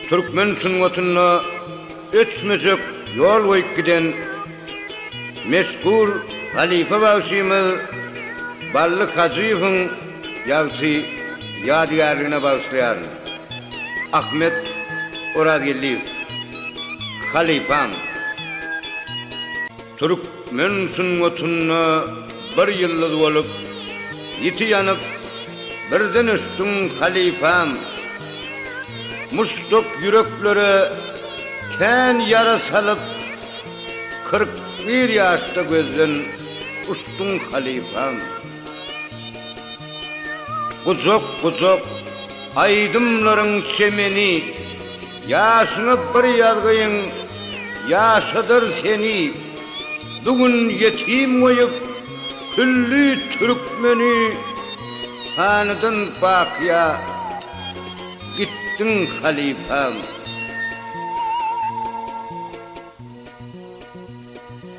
Türkmen sungatynda öçmejek ýol goýup giden meşhur halypa bagşymyz Bally Hajyýewiň ýagty ýadygärligine bagyşlaýaryn. Ahmet Orazgeldiýew. Halypam. Türk Men sungatynda bir ýyldyz bolup, ýiti ýanyp, birden ösdüň halypam. Muşduk ýüreklere kän ýara salyp, kyrk bir ýaşda gözden uçduň halypam. Gujak gujak aýdymlaryň çemeni Ýaşyňa bir ýazgyň ýaşadar seni Bu gün ýetim goýup külli türkmeni Hanydan bakyýa gitdiň halypam.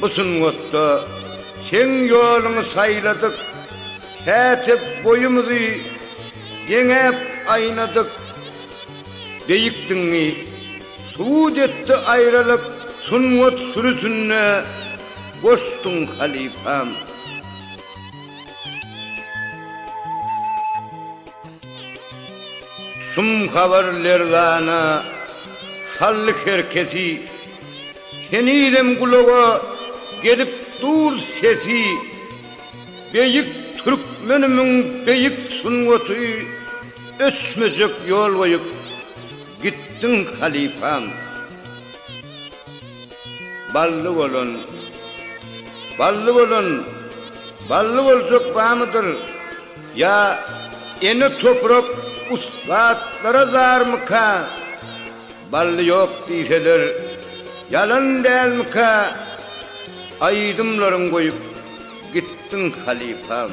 Bu sungatda seň ýoluňy saýladyk, Pätek boýumyzy deňäp aýnadyk. Beýik diňi subut etdi aýralyk, Sungat sürüsinde boşduň halypam. Şum habar lerzana saldy her kesi. Henizem gulaga gelip dur sesi Beýik türkmenimiň beýik sungaty Öçmejek ýol goýup gitdiň halypam Bally bolan Bally bolan Bally boljak bamydyr Ýa ene toprak ussatlara zarmyka? Bally ýok diýseler ýalan dälmikä Aýdymlaryň goýup gitdiň halypam.